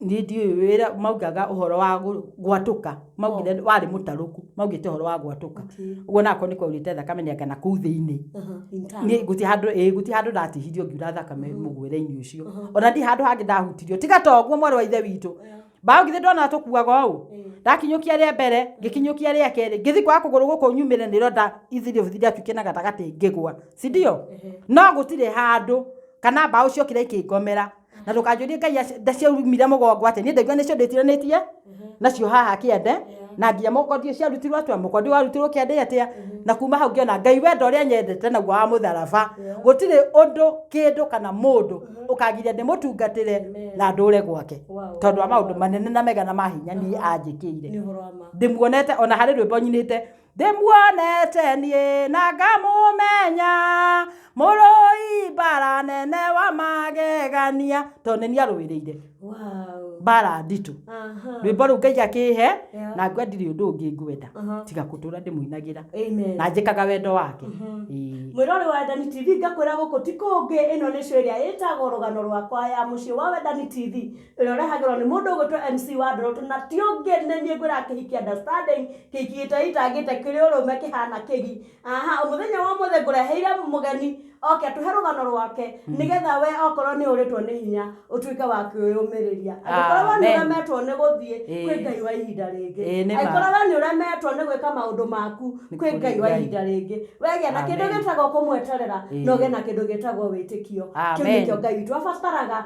Niĩ ndiũĩ wĩra, maugaga ũhoro wa gwatũka, maugire warĩ mũtarũku, maugĩte ũhoro wa gwatũka. Ũguo ona akorwo nĩ kwaurĩte thakame nĩ anga nakũu thĩiniĩ. Niĩ gũtirĩ handũ, ĩĩ gũtirĩ handũ ndatihirio ngiura thakame mũgwĩre-inĩ ũcio. Ona ndirĩ handũ hangĩ ndahutirio, tiga to ũguo mwarĩ wa Ithe witũ. Mbaũ githĩ ndonaga tũkuaga ũũ? Ndakinyũkia rĩa mbere, ngĩkinyũkia rĩa kerĩ, ngĩthiĩ kwaga kũgũrũ gũkũ nyumĩre nĩrĩo nda easily ũgũthiĩ ndatuĩkire na gatagatĩ ngĩgwa. Si ndio? No gũtirĩ handũ kana mbaũ ciokire ikĩngomera. na ndũkanjũrie ngai aci- nda ciaumire mũgongo atĩ niĩ ndaigua nĩcio ndĩtiranĩtie nacio haha kĩande na nginya mũkondi ũcio arutirwo atĩa mũkondi warutirwo kĩande atĩa na kuma hau ngĩona ngai wenda ũrĩa nyendete naguo wa mũtharaba gũtirĩ ũndũ kĩndũ kana mũndũ ũkagiria ndĩmũtungatĩre na ndũre gwake Wow. tondũ wa maũndũ manene na mega na mahinya niĩ anjĩkĩire Nĩ ũhoro wa ma. ndĩmuonete ona harĩ rwĩmbo nyinĩte ndĩmuonete niĩ na ngamũmenya mũrũi mbara nene wa magegania to nĩ niĩ arũĩrĩire Wow. mbara nditũ Aha. rwĩmbo rũu ngai akĩhe Yeah. na ngwe ndirĩ ũndũ ũngĩ ngwenda Aha. tiga kũtũra ndĩmũinagĩra Amen. na njĩkaga wendo wake Mhm. Ĩĩ. mwĩrore wa wendani tv ngakwĩra gũkũ ti kũngĩ ĩno nĩ show ĩrĩa ĩtagwo rũgano rwakwa ya mũciĩ wa wendani tv Ũrĩa ũrehagĩrwo nĩ mũndũ ũgwĩtwo MC wa Ndorotu na ti ũngĩ nĩ niĩ ngwĩraga kĩhiki understanding, kĩhiki gĩteitangĩte kĩrĩ ũrũme kĩhana kĩgi. Aha, mũthenya wa ũmũthĩ ngũreheire mũgeni oke atũhe rũgano rwake nĩgetha we okorwo nĩ ũrĩtwo nĩ hinya ũtuĩke wa kwĩyũmĩrĩria. Angĩkorwo we nĩ ũremetwo nĩ gũthiĩ, kwĩ Ngai wa ihinda rĩngĩ. Angĩkorwo we nĩ ũremetwo nĩ gwĩka maũndũ maku, kwĩ Ngai wa ihinda rĩngĩ. We gĩa na kĩndũ gĩtagwo kũmweterera na ũgĩe na kĩndũ gĩtagwo wĩtĩkio. Kĩu nĩkĩo Ngai witũ abataraga.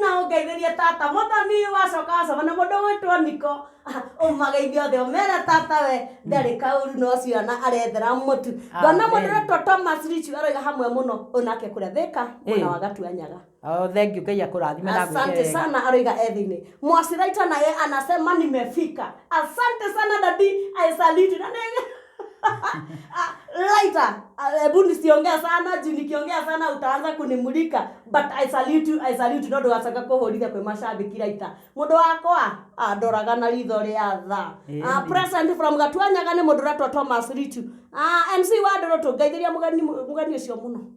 Na ũngeithĩrie tata. Mũthoni wacoka wacoka na mũndũ ũgwĩtwo Niko. Ũmageithie othe ũmere tata we ndarĩ kaũru no ciana arethera mũtu. Ngona mũndũ Amen. ũretwo Thomas Richu aroiga hamwe mũno onake kũrĩa Thĩka mwena Ĩĩ. wa Gatuanyaga. Oh, thengiũ ngai akũrathime na agwĩke Asante wega sana aroiga e thĩinĩ. Mwasiraita naye anasema nimefika. Asante sana daddy. I salute you. Na nĩ Ah, Laita, ah, hebu nisiongea sana juu nikiongea sana utaanza kunimulika but I salute you, I salute you, no ndũgacoka kũhũrithia kwĩ mashabiki Laita mũndũ wakwa ah, ndoraga na ritho rĩa tha Ĩni. Ah, present from Gatuanyaga nĩ mũndũ ũretwo Thomas Richu Ah, MC wa ndũrũ tũngeithĩria mũgeni mũgeni ũcio mũno